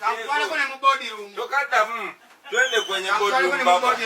Kakutwaleko ne mu body room. Tokaddamu. Twende kwenye body room baba.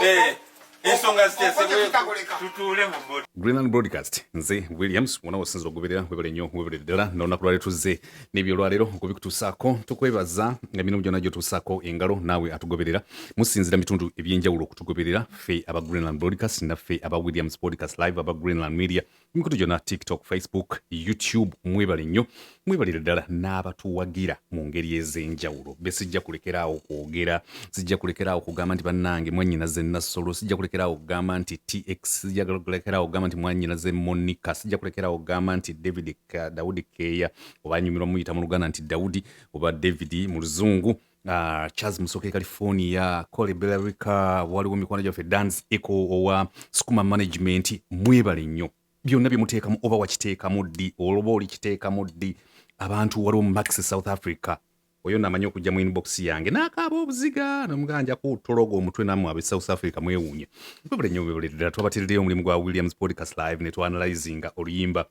Eh. Ensonga zitesebwe tutuule mu body. Greenland Broadcast nze Williams wona wasinza okugoberera webale nnyo webale ddala n'olunaku lwaleero tuzze n'ebyolwaleero okubikutuusaako tukwebaza nga mirimu gyonna gyotuusaako engalo naawe atugoberera musinzira mitundu eby'enjawulo okutugoberera ffe aba Greenland Broadcast naffe aba Williams Broadcast live aba Greenland Media emikutu gyonna tiktok facebook youtube mwebale nnyo mwebalire ddala n'abatuwagira mu ngeri ez'enjawulo be sijja kulekeraawo kwogera sijja kulekeraawo kugamba nti bannange mwanyina ze nassolo sijja kulekeraawo kugamba nti tx sijja kulekeraawo kugamba nti mwanyina ze monika sijja kulekeraawo kugamba nti david dawudi keeya oba nyumirwa muyita mu luganda nti dawudi oba david mu luzungu Uh, charles musoke california cole bellarica waliwo mikwano gyaffe dans eco owa sukuma management mwebale nnyo byonna byemuteekamu oba wakiteekamu ddi oloba olikiteekamu ddi abantu waliwo max south africa oyo namanyi okujja mu inbox yange nakaaba obuziga nomuganja kutologa omutwe namwe abe south africa mwewuunye kwebule nyo bebule ddala twabateredeyo omulimu gwa williams podcast live netwanalyzinga oluyimba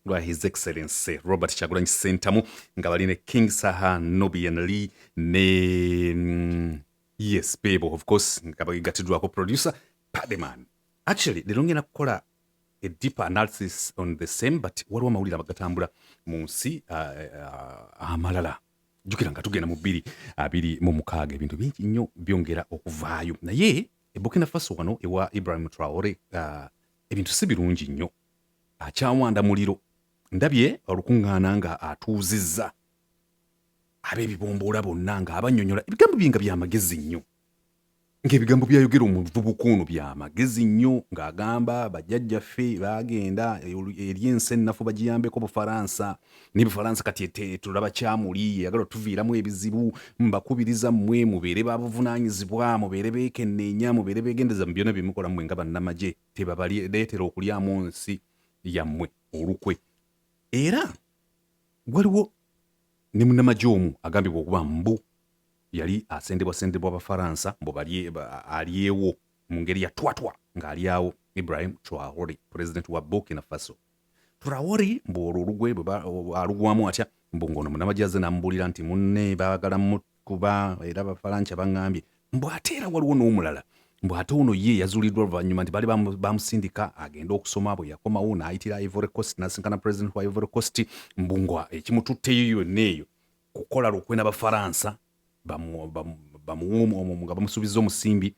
lwa his excellency robert kyagulanyi sentamu nga bali ne king saha nobian lee ne mm, yes bebo of course nga bagatiddwako producer pademan actually lero ngenda kukola a deeper analysis on the same but waliwo amawulire abagatambula mu nsi uh, uh, amalala jukira nga tugenda mu bbiri abiri mu mukaaga ebintu bingi nnyo byongera okuvaayo naye ebukina faso wano ewa ibrahim traore uh, ebintu si birungi nnyo akyawanda muliro ndabye olukuŋŋaana nga atuuzizza ab'ebibomboola bonna ng'abannyonnyola ebigambo bye nga bya magezi nnyo ng'ebigambo byayogera omuvubuka ono bya magezi nnyo ng'agamba bajjajjaffe baagenda eri ensi ennafu bagiyambeko bufaransa ne bufaransa kati etulaba kyamuli yeyagala otuviiramu ebizibu mbakubiriza mmwe mubeere babuvunaanyizibwa mubeere beekenneenya mubeere beegendeza mu byona bye mukola mmwe nga bannamagye tebabaleetera okulyamu nsi yammwe olukwe era waliwo ne munamagye omu agambibwa okuba mbu yali asendebwasendebwa abafaransa mbu alyewo mu ngeri ya twatwa ng'alyawo ibrahim traore pulezidenti wa burkina faso Turawori mbu olwo olugwe alugwamu atya mbu ng'ono munamagye azze n'amubuulira nti munne baagala mukuba era bafalanca baŋŋambye mbu ate era waliwo n'omulala mbu ate ono ye yazuliddwa oluvannyuma nti bali bamusindika agende okusoma bwe yakomawo n'ayitira ivory coast n'asinkana president wa ivory coast mbu nga ekimututteyo yonna eyo kukola lukwe n'abafaransa bamuwumu nga bamusuubiza omusimbi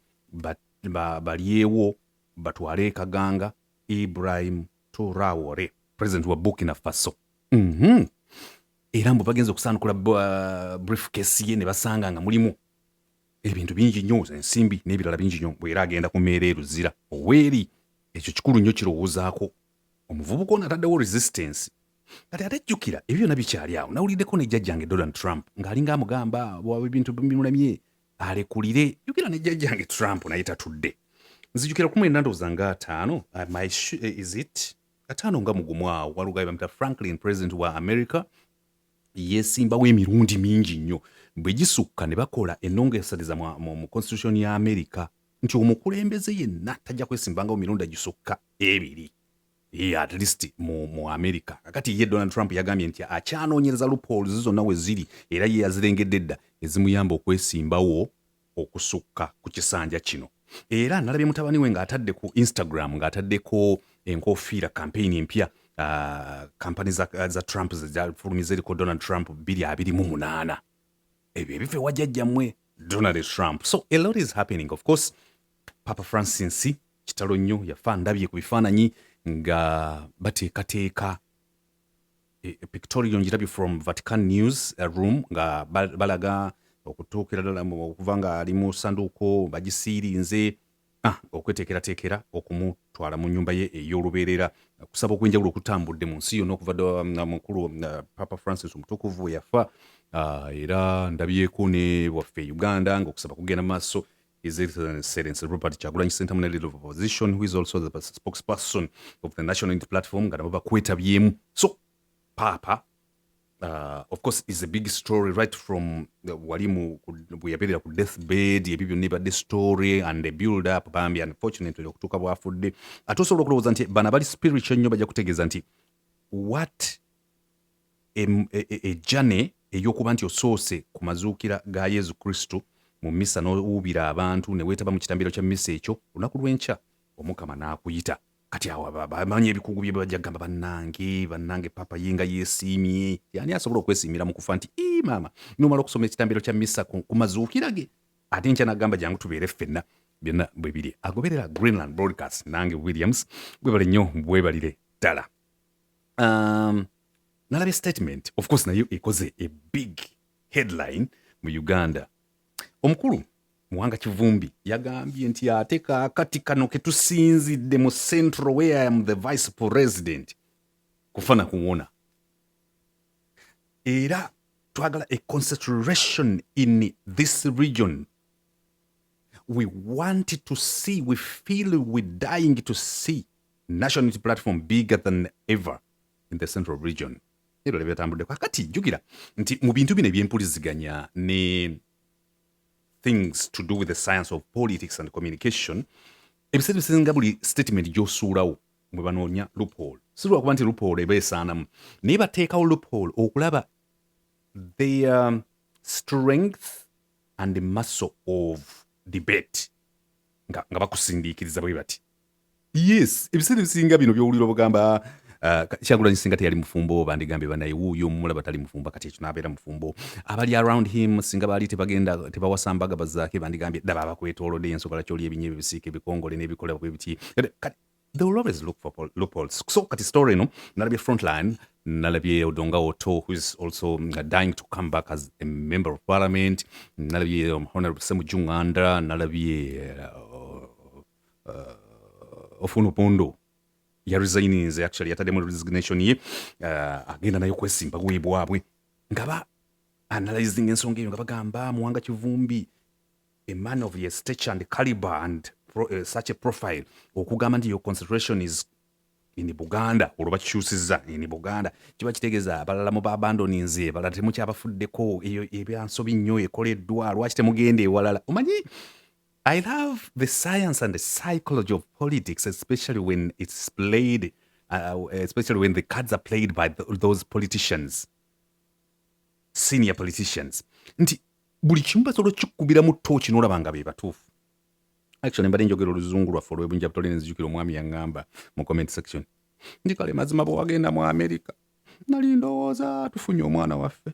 balyewo batwale e kaganga Ibrahim Traore president wa Burkina Faso mm -hmm. era mbu bagenze okusaanukula uh, briefcase ye ne basanga nga mulimu ebintu bingi nnyo ensimbi n'ebirala bingi nnyo bwera agenda ku meera eruzira oweeri ekyo kikulu nnyo kirowoozaako omuvubuka ono ataddewo resistance kati ate jjukira ebyo byonna bikyali awo nawuliddeko ne jjajjange donald trump ng'alinga amugamba waba ebintu bimulemye alekulire yogera ne jjajjange trump naye tatudde nzijukira kumu enandooza nga ataano uh, my eh, is it ataano nga mugumu awo walugaye bamita franklin president wa america yesimbawo emirundi mingi nnyo bwe gisukka ne bakola enongesereza mu constitution ya america nti omukulembeze yenna tajja kwesimbangawo mirundi agisukka ebiri Ye at least mu, mu america kakati ye donald trump yagambye nti akyanoonyereza loopholes zonna we ziri era ye yazirengedde dda ezimuyamba okwesimbawo okusukka ku kisanja kino era nalabye mutabani we ng'atadde ku instagram ng'ataddeko enkofiira kampeyini empya kampani za, za trump zefulumiza eriko donald trump 228 ebyo ebife wajjajjammwe donald trump so a lot is happening of course papa francis Kitalo nnyo yafa ndabye ku bifaananyi nga bateekateeka e, e, pictorial ngirabye from Vatican News uh, room nga balaga okutuukira ddala okuva nga ali mu sanduuko bagisiirinze ah, okweteekerateekera okumutwala mu nnyumba ye ey'olubeerera kusaba okwenjawulo okutambudde mu nsi yonna okuva ddala um, mukulu um, uh, papa francis omutukuvu yafa ah, era ndabyeko ne waffe e uganda ng'okusaba kugenda mu maaso His Excellency Robert Chagulanyi Sentamu ne leader of opposition who is also the spokesperson of the National Unity Platform nga nabo bakwetabyemu so paapa uh, of course is a big story right from uh, wali mu bweyabeerera ku death bed ebyo byonna ebadde story and a build up bambi unfortunately okutuuka bwafudde ate osobola okulowooza nti bana bali spiritual nnyo bajja kutegeeza nti what ejjane e, e, ey'okuba nti osoose ku mazuukira ga Yezu Kristu mu misa n'owuubira abantu ne weetaba mu kitambiro kya misa ekyo, olunaku lw'enkya Omukama n'akuyita. Kati awo bamanyi ebikugu bye bajja kugamba bannange, bannange papa ye nga yeesiimye. Yaani asobola okwesiimira mu kufa nti ii maama n'omala okusoma ekitambiro kya misa ku mazuukira ge ate nkya n'agamba jangu tubeere ffenna byonna bwe biri agoberera Greenland Broadcast nange Williams bwebale nnyo bwebalire ddala. um, nalabye statement of course nayo ekoze a big headline mu uganda omukulu muwanga kivumbi yagambye nti ate kakati kano ketusinzidde mu central where I am the vice president kufana kuwona era twagala a concentration in this region we want to see we feel we dying to see national unity platform bigger than ever in the central region ebyo byetambuddeko akati jjukira nti mu bintu bino ebyempuliziganya ne things to do with the science of politics and communication ebiseera bisinga buli statement gyosuulawo mwe banoonya loophole si lwakuba nti loophole eba esaanamu naye bateekawo loophole okulaba their um, strength and the muscle of debate nga, nga bakusindiikiriza bwe bati yes ebiseera ebisinga bino byowulira obugamba ah, ka- kyagulanyi singa teyali mufumbo bandigambye banaye wuuyo omumulaba tali mufumbo kati ekyo nabeera mufumbo abali around him singa baali tebagenda tebawasa mbaga bazaake bandigambye daba abakwetoolodde yensonga lwaki oli ebinyo ebibisiika ebikongole n'ebikola bwe biti Kati- kati they will always look for pol- loopholes so kati story eno nalabye frontline nalabye odonga oto who is also mm, dying to come back as a member of parliament nalabye um, honorable semu junganda nalabye uh, uh, ofuna opondo ya resigninze actually yataddemu resignation ye uh, agenda nayo kwesimba kuyi bwabwe nga ba analyzing ensonga eyo nga bagamba muwanga kivumbi a man of your stature and caliber and pro, uh, such a profile okugamba nti your concentration is in buganda olwo bakikyusiza in buganda kiba kitegeeza abalala mu babandoninze balala temukyabafuddeko ebyansobi nnyo ekoleddwa lwaki temugenda ewalala omanyi I love the science and the psychology of politics, especially when it's played, uh, especially when the cards are played by th those politicians, senior politicians. Nti buli kimu basobola okikubiramu tooki n'olaba nga be batuufu. Actually mbadde njogera oluzungu lwaffe olw'ebunja butole ne nzijukira omwami yaŋŋamba mu comment section nti kale mazima bwe wagenda mu Amerika nali ndowooza tufunye omwana waffe.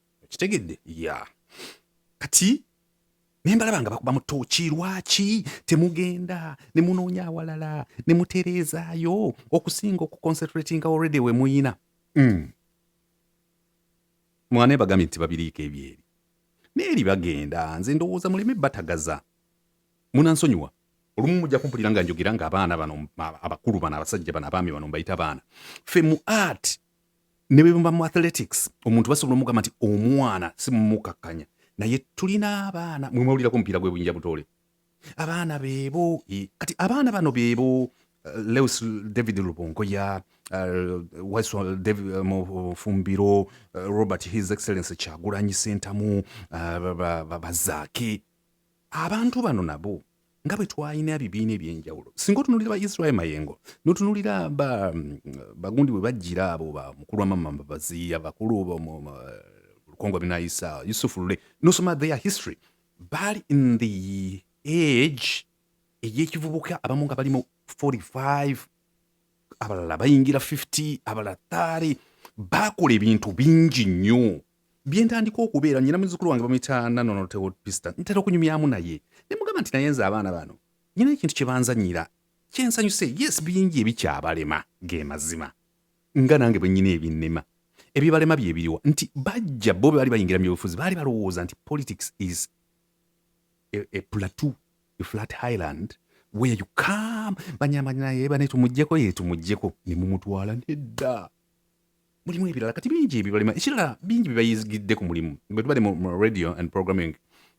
okitegedde ya kati naye mbalaba nga bakuba mutoki lwaki temugenda ne munoonya awalala ne mutereezaayo okusinga okuconcentratinga already we muyina mm. mwana ebagambye nti babiriiko ebyeri naye eri bagenda nze ndowooza muleme batagaza munansonyiwa olumu mujja kumpulira nga njogera ng'abaana bano abakulu bano abasajja bano abaami bano mbayita baana fe mu art ne bwe muba mu athletics omuntu basobola omugamba nti omwana si mumukakkanya naye tulina abaana mwe mwawulirako omupiira gwe buyinja butoole abaana beebo e, kati abaana bano beebo eh, leus david lubongoya eh, waiswa david eh, mufumbiro robert his excellence kyagulanyi sentamu bazaake abantu bano nabo nga bwe twalina ebibiina eby'enjawulo singa otunulira ba israel mayengo notunulira bagundi bwe bajjira abo ba mukulu wamamamba baziya bakulu lukongo binayisa yusufu lule nosoma their history baali in the age ey'ekivubuka abamu nga balimu 45 abalala bayingira 50 abalala 3 baakola ebintu bingi nnyo byentandika okubeera nyina muzukulu wange bamuyita nanonotewopista ntera okunyumyamu naye ne mugamba nti naye nze abaana bano nyina ekintu kye banzanyira kyensanyuse yes bingi ebikyabalema ge mazima nga nange bwe nyina ebinnema ebibalema bye biriwa nti bajja bo baali bayingira mu byobufuzi baali balowooza nti politics is a, a plateau a flat highland where you come banyamba naye bane tumugyeko ye tumugyeko ne mumutwala nedda mulimu ebirala kati bingi ebibalima ekirala bingi bibayizigidde ku mulimu bwe tubadde mu radio and programming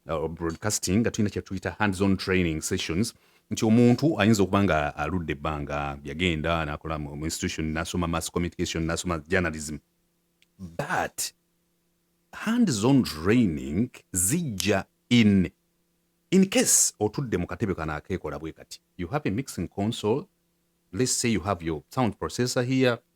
uh, broadcasting nga tulina kyetuyita hands on training sessions nti omuntu ayinza okuba nga aludde ebbanga yagenda nakola mu institution nasoma mass communication nasoma journalism but hands on training zijja in in case otudde mu katebe kano akeekola bwe kati you have a mixing console let's say you have your sound processor here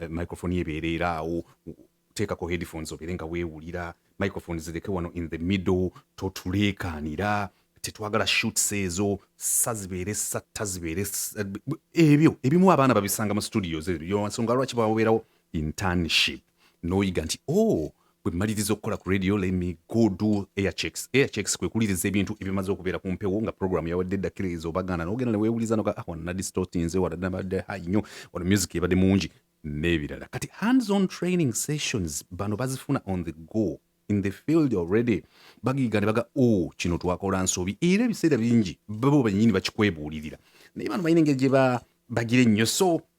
eh, microphone ebeereera awo teekako headphones obeere nga weewulira microphone zireke wano in the middle totuleekaanira tetwagala shoots ezo sa zibeere satta zibeere ebyo ebimu abaana babisanga mu studios ebyo nsonga lwaki bababeerawo internship n'oyiga nti o oh, bwe mmaliriza okukola ku radio lemi go do airchecks airchecks kwe kuliriza ebintu ebimaze okubeera ku mpewo nga programu yawadde eddakiriza obagaana n'ogenda ne weewuliza noga ah wano nadistootinze wano nabadde hayi nnyo wano music ebadde mungi n'ebirala kati hands on training sessions bano bazifuna on the go in the field already bagiga ne baga o oh, kino twakola nsobi era ebiseera bingi babo bennyini bakikwebuulirira naye bano balina engeri gye bagira ennyo so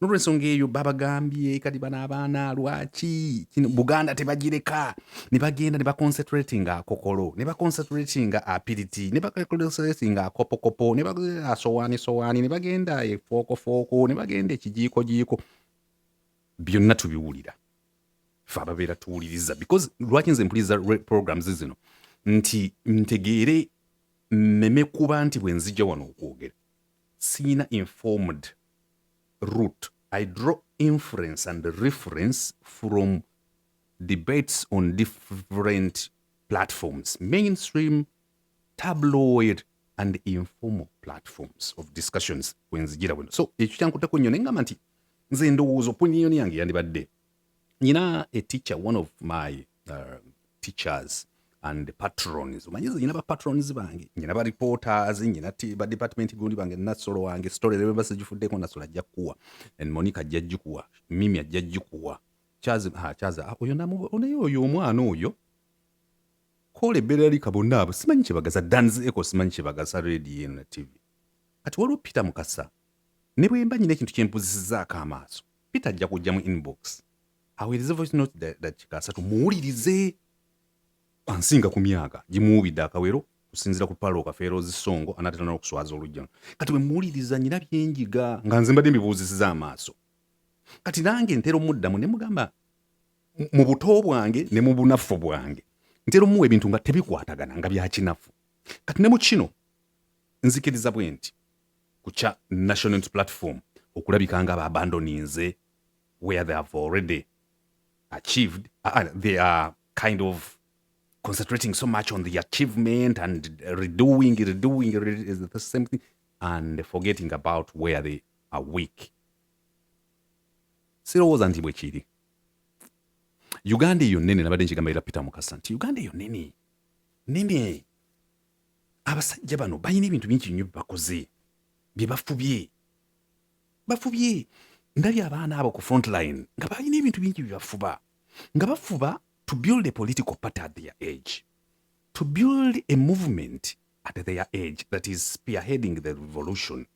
nolwensonga eyo babagambye kati bano abaana lwaki kino buganda tebagireka ne bagenda ne baconcentratinga akokolo ne baconcentratinga apiriti ne baconcentratinga akopokopo ne bagenda asowaani sowaani ne bagenda efookofooko ne bagenda ekijiikojiiko byonna tubiwulira fe ababeera tuwuliriza because lwaki nze mpuliriza programs zino nti ntegeere mmeme kuba nti bwe nzija wano okwogera siina informed root i draw inference and reference from debates on different platforms mainstream tabloid and informal platforms of discussions kwenzijira wino so ekyo kyankutako nnyo naye ngamba nti nze ndowooza opinion yange yandibadde nyina a teacher one of my uh, teachers and patrons omanyi nze nyina bapatrons bange nyina bareporters nyina badepartment gundi bange nasolo wange story lwemba sigifuddeko nasolo ajja kukuwa and monica ajja gikuwa mimi ajja gikuwa kyazi ha kyazi ah, oyo namu onaye oyo omwana oyo kola ebbeera lika bonna abo simanyi kyebagaza dans eco simanyi kyebagaza radio eno na tv kati waliwo peter mukasa ne bwemba nyina ekintu kyempuzisizaako amaaso peter ajja kujja mu inbox aweereze voice note dakiika asatu muwulirize ansinga ku myaka gimuwubidde akawero kusinzira ku paalo okafeero zisongo anaatera n'okuswaza olujjano kati bwe muwuliriza nyina byenjiga nga nze mbadde mbibuuzisiza amaaso kati nange ntera omuddamu ne mugamba mu buto bwange ne mu bunafu bwange ntera omuwa ebintu nga tebikwatagana nga byakinafu kati ne mu kino nzikiriza bwe nti ku kya national unity platform okulabika nga abandoninze where they have already achieved uh, uh, they are kind of concentrating so much on the achievement and redoing redoing redoing the same thing and forgetting about where they are weak sirowooza nti bwe kiri uganda eyo nene nabadde nkigamba era peter mukasa nti uganda eyo nene nene abasajja bano balina ebintu bingi nnyo byebakoze bye bafubye bafubye ndabye abaana abo ku frontline nga balina ebintu bingi bye bafuba nga bafuba to build a political party at their age to build a movement at their age that is spearheading the revolution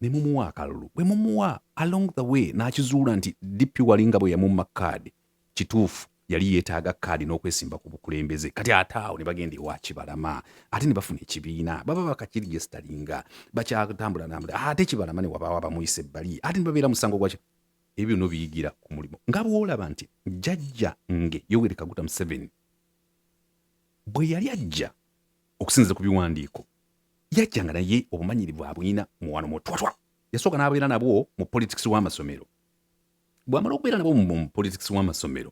ne mumuwa akalulu bwe mumuwa along the way n'akizuula nti DP wali nga bwe yamumma kaadi kituufu yali yeetaaga kaadi n'okwesimba ku bukulembeze kati ate awo ne bagenda ewa kibalama ate ne bafuna ekibiina baba bakakiri gye sitalinga bakyatambula nambula ate kibalama ne wabaawo abamuyisa ebbali ate ne babeera musango gwaki ebyo byonna biyigira ku mulimu nga bw'olaba nti jjajja nge yoweri kaguta museveni bwe yali ajja okusinzira ku biwandiiko yajjanga naye obumanyirivu abulina muwano mutwatwa yasooka n'abeera nabwo mu politics w'amasomero bw'amala okubeera nabwo mu politics w'amasomero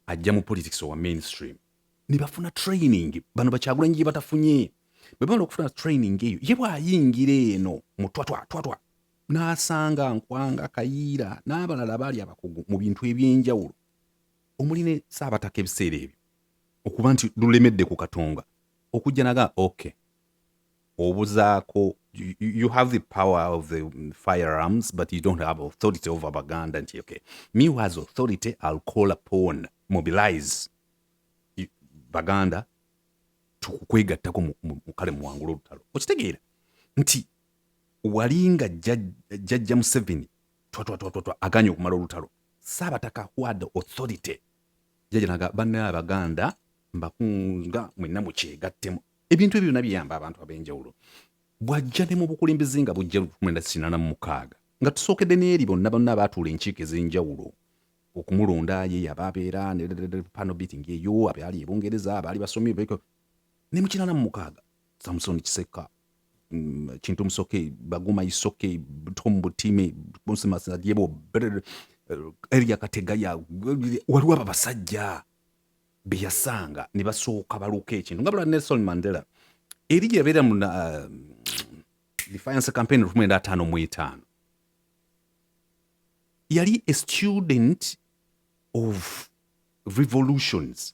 ajja mu politics owa mainstream ne bafuna training bano bakyagulanyi gye batafunye bwe bamala okufuna training eyo ye bw'ayingira eno mutwatwa twatwa n'asanga nkwanga kayiira n'abalala baali abakugu mu bintu eby'enjawulo omuli ne saabataka ebiseera ebyo okuba nti lulemedde ku katonga okujja naga ok obuzaako you have the power of the firearms but you don't have authority over baganda nti ok me was authority i'll call upon mobilize baganda tukukwegattako mukale muwangula olutalo okitegeera nti wali nga jajja museveni twatwatwatwatwa aganye okumala olutalo Saabataka ward authority jaja naga banna abaganda mbakunga mwenna mukyegattemu ebintu ebyo byonna biyamba abantu ab'enjawulo bwajja ne mu bukulembeze nga bujja lukumwenda kinana mu mukaaga nga tusookedde n'eri bonna bonna abaatuula enkiiko ez'enjawulo okumulonda ye yaba abeera pano beating eyo abaali ebungereza abaali basomi ne mu kinana mu mukaaga Samson Kisekka mm, Kintu Musoke Baguma Isoke Tom Butime Bonse Masajebo eh, Elia Kategaya waliwo abo abasajja be yasanga ne basooka baluka ekintu nga bula Nelson Mandela eri yabeera mu eh, defiance campaign lukumi enda ataano mu etaano yali a student of revolutions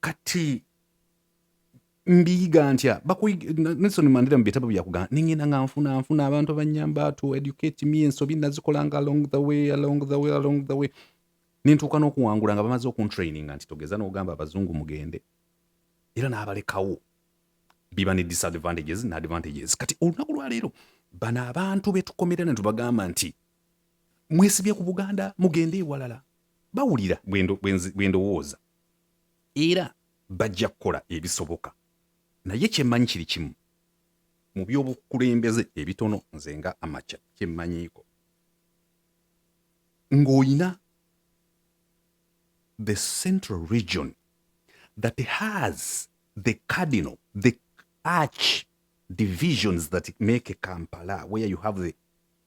kati mbiyiga ntya nelson mandira mu bitabo byakugamba nengenda nga nfuna nfuna abantu abanyamba to educate me ensobi nazikolanga along the way along the way along the way nentuuka n'okuwangula nga bamaze okuntraininga nti togeza n'ogamba abazungu mugende era n'abalekawo biba ne disadvantages ne advantages kati olunaku lwaleero bano abantu betukomera ne tubagamba nti mwesibye ku buganda mugende ewalala bawulira bwe ndowooza era bajja kukola ebisoboka naye kyemmanyi kiri kimu mu by'obukulembeze ebitono nze nga amakya kyemmanyiiko ng'olina the central region that has the cardinal the arch divisions that make a kampala where you have the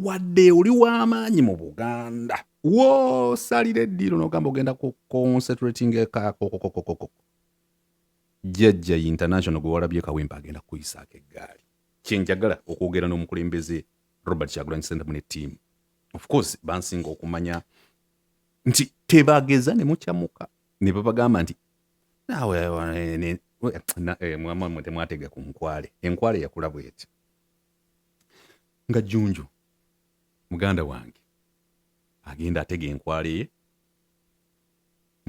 wadde oli w'amaanyi mu buganda woosalira eddiiro n'ogamba ogenda ku concentrating ekakokokokokoko jjajja international gwe walabye kawempe agenda kukuyisaako eggaali kyenjagala okwogera n'omukulembeze robert kyagulanyi sentamu ne ttiimu of course bansinga okumanya nti tebageza ne mukyamuka ne babagamba nti naawe eh, eh, eh, mwamwe temwatega ku nkwale enkwale yakula bweti nga jjunju muganda wange agenda atega enkwale ye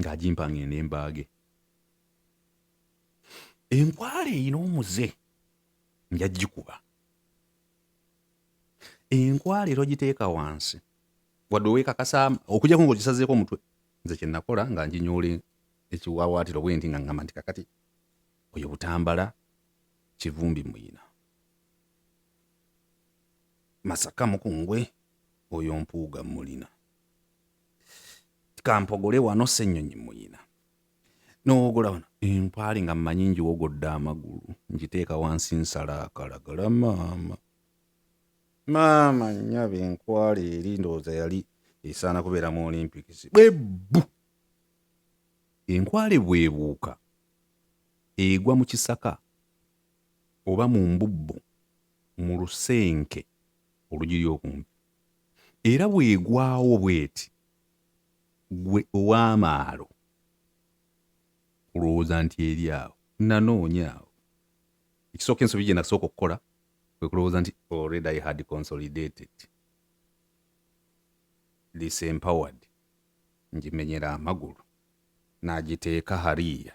ng'agimpa ng'ende mbaage enkwale erina omuze nja gikuba enkwale era ogiteeka wansi wadde owekakasa okujako ngaogisazeeko omutwe nze kyenakola nga njinyoola ekiwawaatiro bwenti nga ngamba nti kakati oyo butambala kivumbi muyina masaka mukungwe oyo mpuuga mulina kampogole wano senyonyi muyina nowogola wano empaali nga mmanyi njiwogodde amagulu njiteeka wansi nsala akalagala maama maama nyabe enkwala eri ndowooza yali esaana kubeera mu olympics bwebbu enkwale bwebuuka egwa mu kisaka oba mu mbubbu mu lusenke olugiri okumpi, era bw'egwawo bw'eti, ggwe ow'amaalo olowooza nti eri awo. Nnanoonya awo. Ekisooka ensobi gye nasooka okukola kwe kulowooza nti already I had consolidated, disempowered, ngimenyera amagulu, nagiteeka hariya.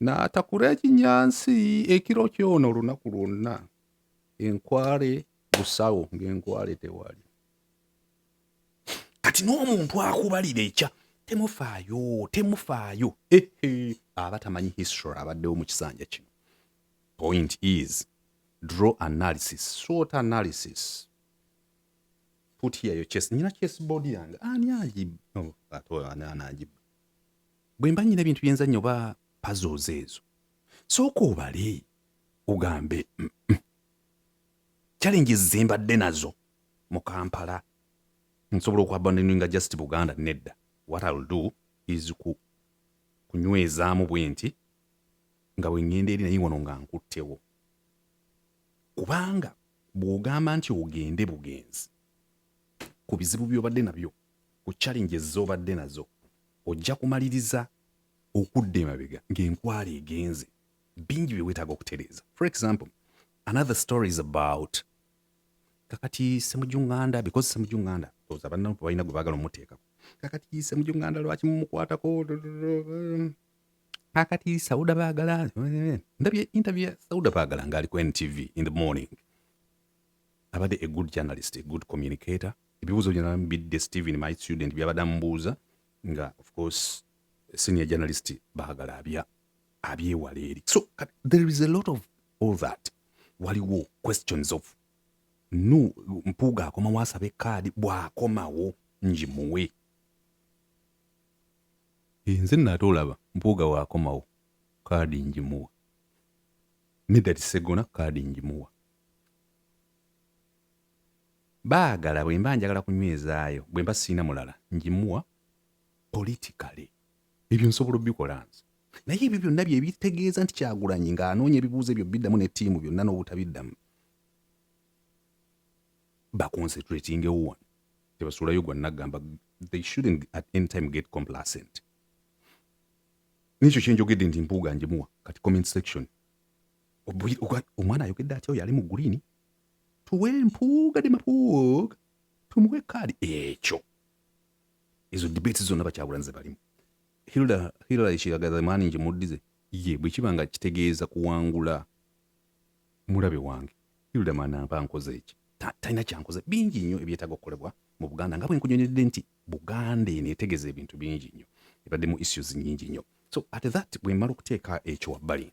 N'atakula ekinyansi ekiro kyona olunaku lwonna, enkwale busawo ng'enkwale tewali. Kati n'omuntu akubalira ekya temufaayo temufaayo aba tamanyi history abaddewo mu kisanja kino. Point is draw analysis, sort analysis put here your chest. Nina chest body yange ani agiba? Oh, ate ani agiba? Bwe mba nnyina ebintu bye nzannya oba puzzles ezo, sooka obale ogambe challenges ze mbadde nazo mu Kampala nsobola okwabandoninga just Buganda nedda. What I'll do is ku kunywezaamu bwe nti nga bwe ŋŋenda eri naye wano nga nkuttewo kubanga bw'ogamba nti ogende bugenzi ku bizibu by'obadde nabyo ku challenges z'obadde nazo ojja kumaliriza okudda emabega ng'enkwala egenze bingi bye weetaaga okutereeza for example another story is about kakati semujunganda because semujunganda oza banna balina gwe baagala omuteekako kakati semujunganda lwaki mumukwatako kakati sauda baagala ndabye interview ya sauda baagala ng'ali ku ntv in the morning abadde a good journalist a good communicator ebibuuzo byonna bidde Steven my student byabadde amubuuza nga of course senior journalist baagala abya abyewala eri so uh, there is a lot of all that waliwo questions of nu mpuuga akomawo asabe kaadi bw'akomawo ngimuwe nze nate olaba mpuuga waakomawo kaadi ngimuwa medati segona kaadi ngimuwa Baagala bwemba njagala kunywezaayo bwemba sirina mulala ngimuwa politically. Ebyo nsobola obikola nze. Naye ebyo byonna bye bitegeeza nti Kyagulanyi ng'anoonya ebibuuzo ebyo biddamu ne ttiimu byonna n'obutabiddamu. Baconcentratingewo wano tebasuulayo gwa naggamba they shouldn't at any time get complacent nekyo kyenjogedde nti mpuuga njimuwa kati comment section omwana ayogedde atya oyo ali mu green tuwe mpuuga de mapuuga tumuwe kaadi ekyo ezo debate zonna bakyabulanze balimu hilda hilda ekiragaza maani nje muddize ye bwe kiba nga kitegeeza kuwangula mulabe wange hilda manamba nkoze eki talina kyankoze bingi nnyo ebyetaaga okukolebwa mu buganda nga bwe nkunyonyedde nti buganda eno etegeza ebintu bingi nnyo ebaddemu issues nyingi nnyo so at that bwe mmala okuteeka ekyo wabbali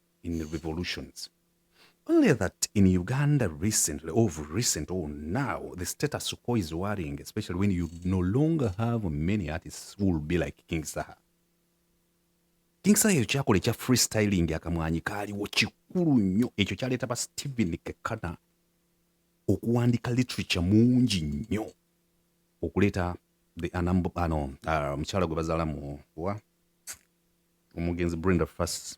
in revolutions. Only that in Uganda recently, or recent, or now, the status quo is worrying, especially when you no longer have many artists who will be like King Saha. King Saha ekyo kyakola ekya freestyling akamwanyi kaaliwo kikulu nnyo ekyo kyaleeta ba Stephen Kekana okuwandiika literature mungi nnyo okuleeta the anambo ano uh, mukyala gwe bazaala mu wa omugenzi Brenda Fassie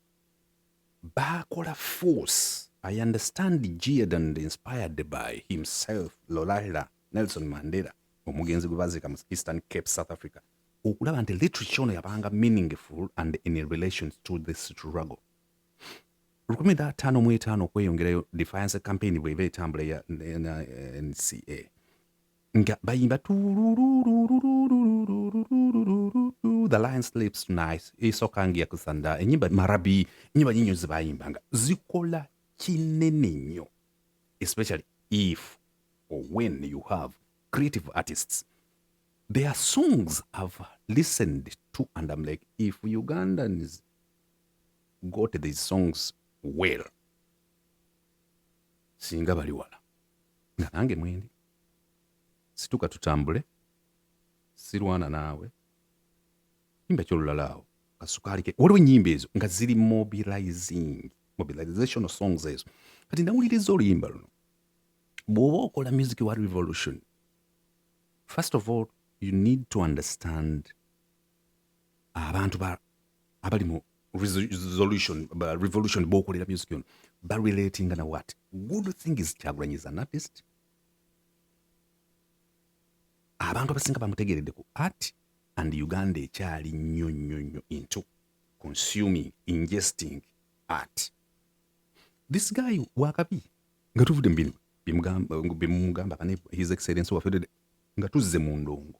baakola force i understand geared and inspired by himself lolaila nelson mandela omugenzi gwe baziika mu eastern cape south africa okulaba nti literature ono yabanga meaningful and in relation to the struggle lukumi da ttaano mu etaano okweyongerayo defiance campaign bweba etambula ya nca nga bayimba the lion sleeps tonight esooka nga yakusanda enyimba marabi enyimba nyinyo zebayimbanga zikola kinene nnyo especially if or when you have creative artists their songs have listened to and i'm like if ugandans got these songs well singa bali wala nga nange mwendi situka tutambule sirwana naawe imba kyolulala awo kasukaali ke waliwo ennyimba ezo nga ziri mobilizing mobilization songs ezo kati nawuliriza oluyimba luno bw'oba okola music wa revolution first of all you need to understand abantu ba abali mu resolution ba revolution bokolera music yono ba relating na what good thing is Kyagulanyi is an artist abantu abasinga bamutegeredde ku art and Uganda ekyali nnyo nnyo nnyo into consuming ingesting art this guy wakabi nga tuvudde mu bino bimugamba bimugamba his excellence wafedede nga tuzze mu ndongo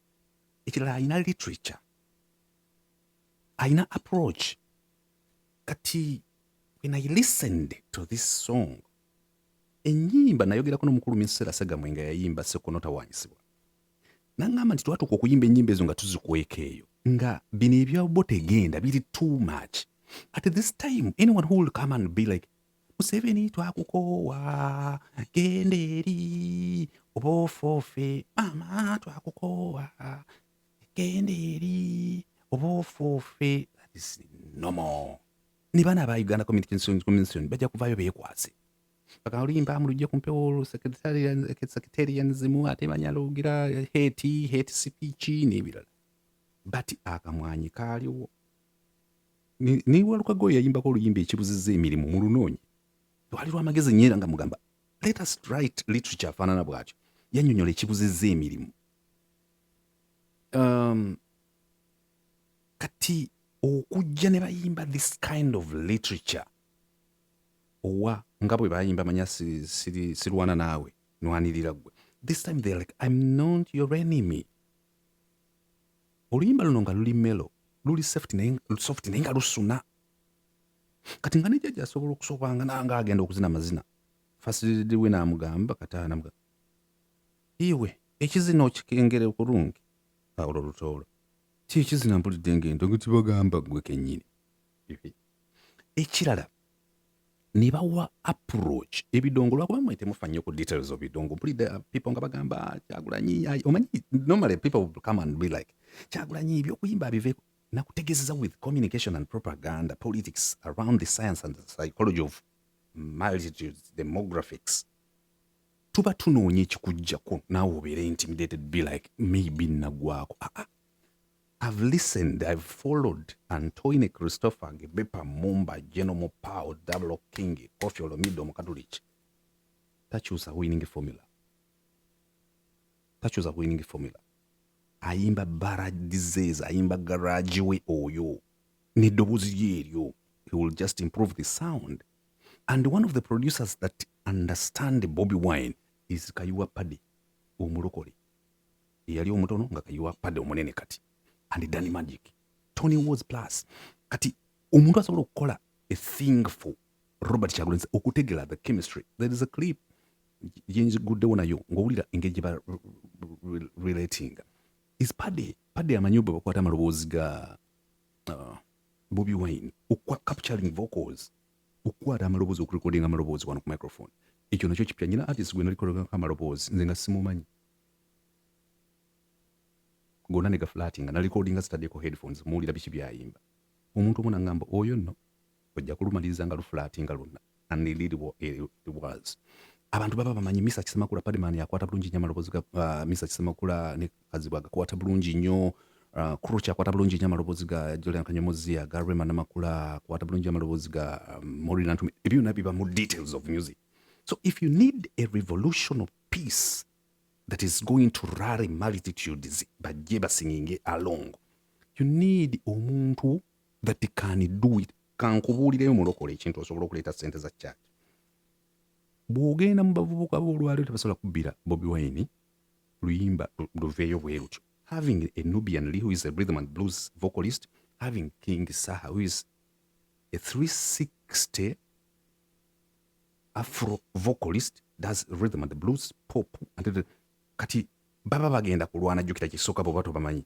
ekirala alina literature alina approach kati when i listened to this song enyimba nayogerako nomukulu minsera segamwe nga yayimba sekonotawanyisibwa nangamba nti twatuuka okuyimba enyimba ezo nga tuzikweka eyo nga bino ebyabo tegenda biri too much at this time anyone who will come and be like Museveni twakukoowa genda eri oba ofoofe maama twakukoowa genda eri oba ofoofe that is normal ne bana aba uganda communication commission bajja kuvayo bekwase paka olimba mulujja ku mpewo secretarianism ate manya logira heti heti speech n'ebirala but akamwanyi kaaliwo naye walukaga oyo yayimbako oluyimba ekibuziza emirimu mu lunoonyi lwali lwamagezi nyo era nga mugamba let us write literature afaanana bwatyo yanyonyola ekibuziza emirimu um, kati okujja ne bayimba this kind of literature owa nga bwe bayimba manya sirwana naawe nwanirira gwe this time they're like i'm not your enemy Oluyimba luno nga luli melo luli soft naye soft naye nga lusuna kati nga ne jajja asobola okusooka nga nanga agenda okuzina amazina fasilididi we n'amugamba kataana mga iwe ekizina okikengere okulungi olwo lutoolo ti ekizina mpulidde ng'endogo tibagamba gwe kennyini ekirala nebawa approach ebidongo lwakuba mwe temufa nnyo ku details of bidongo mpulidde uh, people nga bagamba kyagulanyi omanyi normally people will come and be like kyagulanyi ebyokuyimba abive nakutegezeza with communication and propaganda politics around the science and the psychology of multitudes demographics tuba tunoonya ekikujjako naawe obeere intimidated be like maybe nagwako aa ah, ah. I've listened, I've followed Antoine Christopher Ngebepa Mumba General Mopao Double King Kofi Olomide Omukatuliki takyusa winning formula takyusa winning formula ayimba baradises ayimba garage we oyo neddoboozi lye eryo he will just improve the sound and one of the producers that understand Bobby Wine is Kayuwa Paddy omulokole eyali omutono nga kayiwa pade omunene kati and dani magic tony was plus kati omuntu asobola okukola a thing for robert kyagulanyi okutegela the chemistry there is a clip yenjiguddewo nayo ngaowulira engeri gye ba relatinga is pade pade amanyi bwe bakwata amaloboozi ga uh, bobi wine okwa capturing vocals okukwata amaloboozi okurekodinga amaloboozi wano ku microphone ekyo nakyo kipya nyina artist gwe nalikologanko amaloboozi nze nga simumanyi gona ne gafulatinga na recordinga zitaddeko headphones muwulira biki byayimba omuntu omu nangamba oyo nno ojja kulumaliriza nga lufulatinga lwonna and indeed it was abantu baba bamanyi misa kisemakula padman yakwata bulungi nyo amalobozi ga uh, misa kisemakula ne kazibwa agakwata bulungi nyo uh, kruch akwata bulungi nyo amalobozi ga julian kanyomozi aga rema namakula akwata bulungi nyo amalobozi ga um, morinantumi ebyo byonna biba mu details of music so if you need a revolution of peace that is going to rally multitudes bajje basinginge along you need omuntu that can do it kankubuulireyo mulokole ekintu osobola okuleeta sente za church bw'ogenda mu bavubuka b'olwaliro tebasobola kubbira bobi wine luyimba luveeyo bwe lutyo having a nubian lee who is a rhythm and blues vocalist having king saha who is a 360 afro vocalist does rhythm and blues pop and kati baba bagenda kulwana jukira kisoka bo bato bamanyi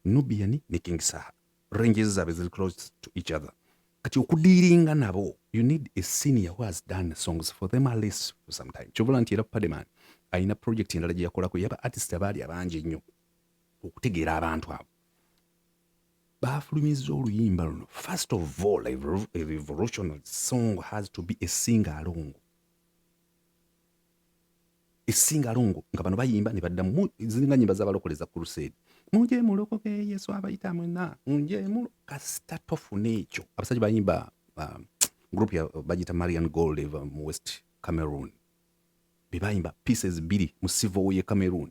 nubian ne king saha ranges zabe zili close to each other kati okudiringa nabo you need a senior who has done songs for them at least for some time chobola nti era pademan alina project endala gye yakolako yaba artist abaali abangi ennyo okutegeera abantu abo baafulumizza oluyimba luno first of all a revolutionary song has to be a sing along esinga alongo nga bano bayimba ne baddamu ziringa nyimba zabalokole za crusade muje mulokoke yesu abayita mwena muje mulo kasita tofuna ekyo abasajja bayimba uh, group ya uh, bagita marian gold eva mu west cameroon bebayimba pieces biri mu civil ye cameroon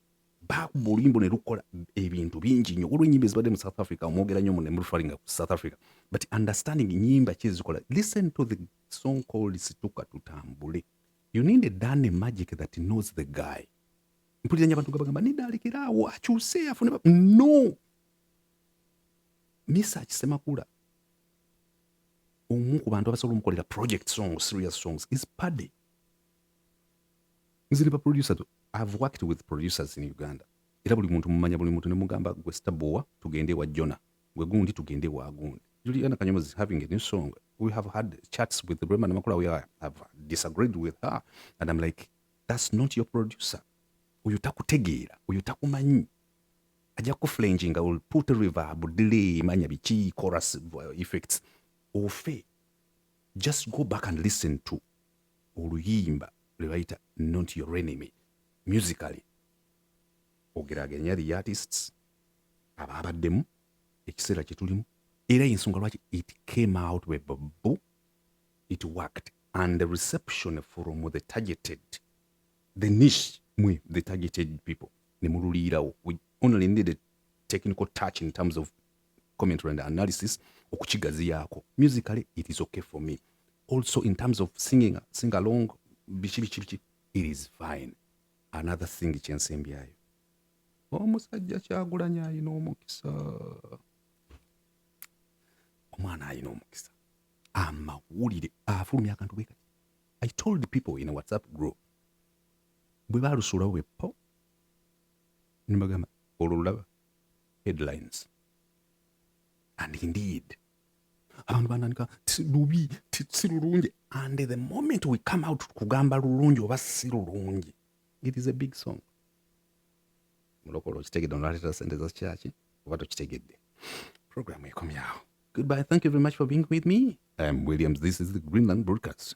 baakuba oluyimba ne lukola ebintu bingi nnyo olwo enyimba ezibadde mu south africa omwogera nnyo mune mulufalinga ku south africa but understanding nyimba ki ezikola listen to the song called situka tutambule you need a done magic that knows the guy mpulira nnyo abantu gabagamba nidaalekiraawo akyuse afune no misa akisemakula omu ku bantu abasobola omukolera project songs serious songs is paddy nze ne ba producers i've worked with producers in uganda era buli muntu mumanya buli muntu nemugamba gwe stabowa tugende ewa jona gwe gundi tugende ewa gundi juliana kanyomozi is having a new song we have had chats with rema namakula we are, have disagreed with her and i'm like that's not your producer oyo takutegeera oyo takumanyi ajja kuflenginga will put reverb delay manya biki chorus uh, effects ofe just go back and listen to oluyimba lwebayita not your enemy musically ogeraganya the artists abaabaddemu ekiseera kyetulimu era yensonga lwaki it came out webbo it worked and the reception from the targeted the niche mwe the targeted people nemululiirawo we only needed technical touch in terms of commentary and analysis okukigaziyaako musically it is okay for me also in terms of singing sing along biki biki biki it is fine another thing kyensembyayo omusajja kyagulanya ayina omukisa omwana ayina omukisa amawulire afulumya akantu bwe kati i told people in a whatsapp group bwe balusulawo bwe po nibagamba olwo lulaba headlines and indeed abantu bandanika lubi si lulungi and the moment we come out kugamba lulungi oba si lulungi it is a big song mulokolo okitegedde onaleetera sente za kyaki oba tokitegedde programu ekomyawo goodbye thank you very much for being with me i am williams this is the greenland broadcast